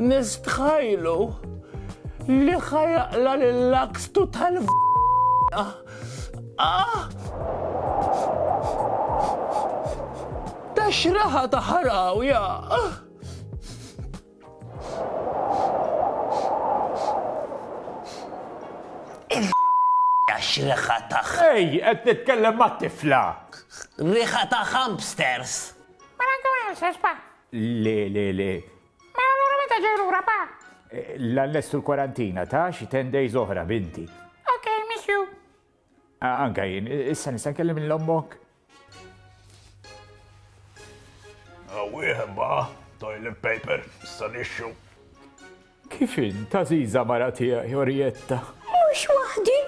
Nistħajlu li ħajaqla l-lakstu tal Ah! Ta' xraħa ta' ħaraw, ja! Għax riħa ta' Ej, qed nitkellem ma' tifla! Riħa ta' hamsters! Mela għu għu xesba, Le, le, le. Ma allura meta ġej lura, pa? L-annestu l-kwarantina ta' xi ten days oħra, binti. Ok, miss you. Anka jien, issa nista' nkellim lil ommok? Wieħed ba, toilet paper, issa nixxu. Kif int, għażiża mara tiegħi, Orietta? Mhux waħdi.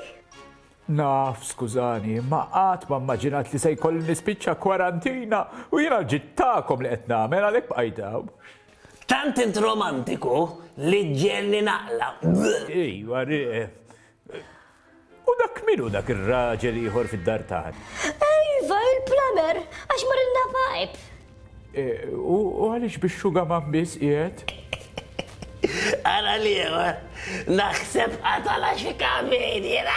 Naf, skużani, imma qatt ma mmaġinat li se jkolli nispiċċa kwarantina u jiena l-ġittakom li qed nagħmel għalhekk bqajt hawn. Tant int romantiku li ġġegħelni naqla'. Ejwa, U dak min hu dak ir-raġel ieħor fid-dar tagħna? Iva, il-plumber, għax marilna pipe. U għaliex bix-xugaman biss qiegħed? Ara l-ieħor, naħseb qatala xi kameriera.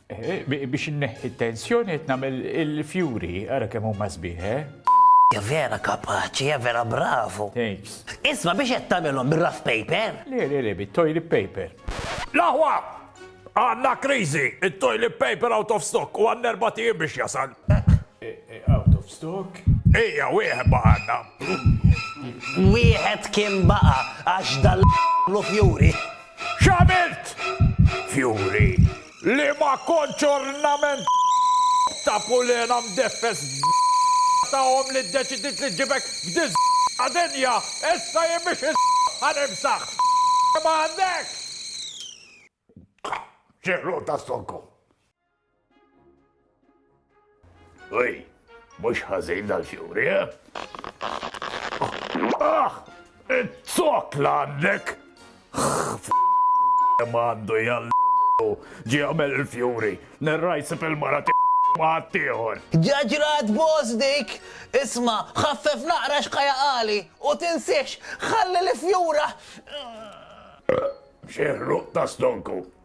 Biex inneħħi t-tensjoni qed nagħmel il-fjuri, ara kemm huma sbieħ, eh? Hija vera kapaċi, hija vera bravu. Thanks. Isma' biex qed tagħmilhom bir-rough paper? Le, le, le, bit-toilet paper. L-aħwa! Għandna kriżi, it-toilet paper out of stock u għandna erba' tiem biex jasal. Out of stock? Ejja, wieħed baqa' għandna. Wieħed kien baqa' għax dal lu fjuri. X'għamilt? Fjuri. Li ma kontx ornament ta' pulena mdeffes ta' omm li ddeċidiet li ġġibek f'di ta' dinja, issa jien biex insaħħa nimsaħ li ma għandekx! Xi ħruq ta' stokkom! Uj, mhux ħażin dal-fjuri, eh? Ah! It-tok l-għandek! Mandu jall ġi għamel il-fjuri, nerrajsi fil-mara maħtiħor. Ġaġrat bos dik, isma, ħaffef naqra xħaja għali, u tinsiex, ħalli li fjura. Xieħlu ta' stonku.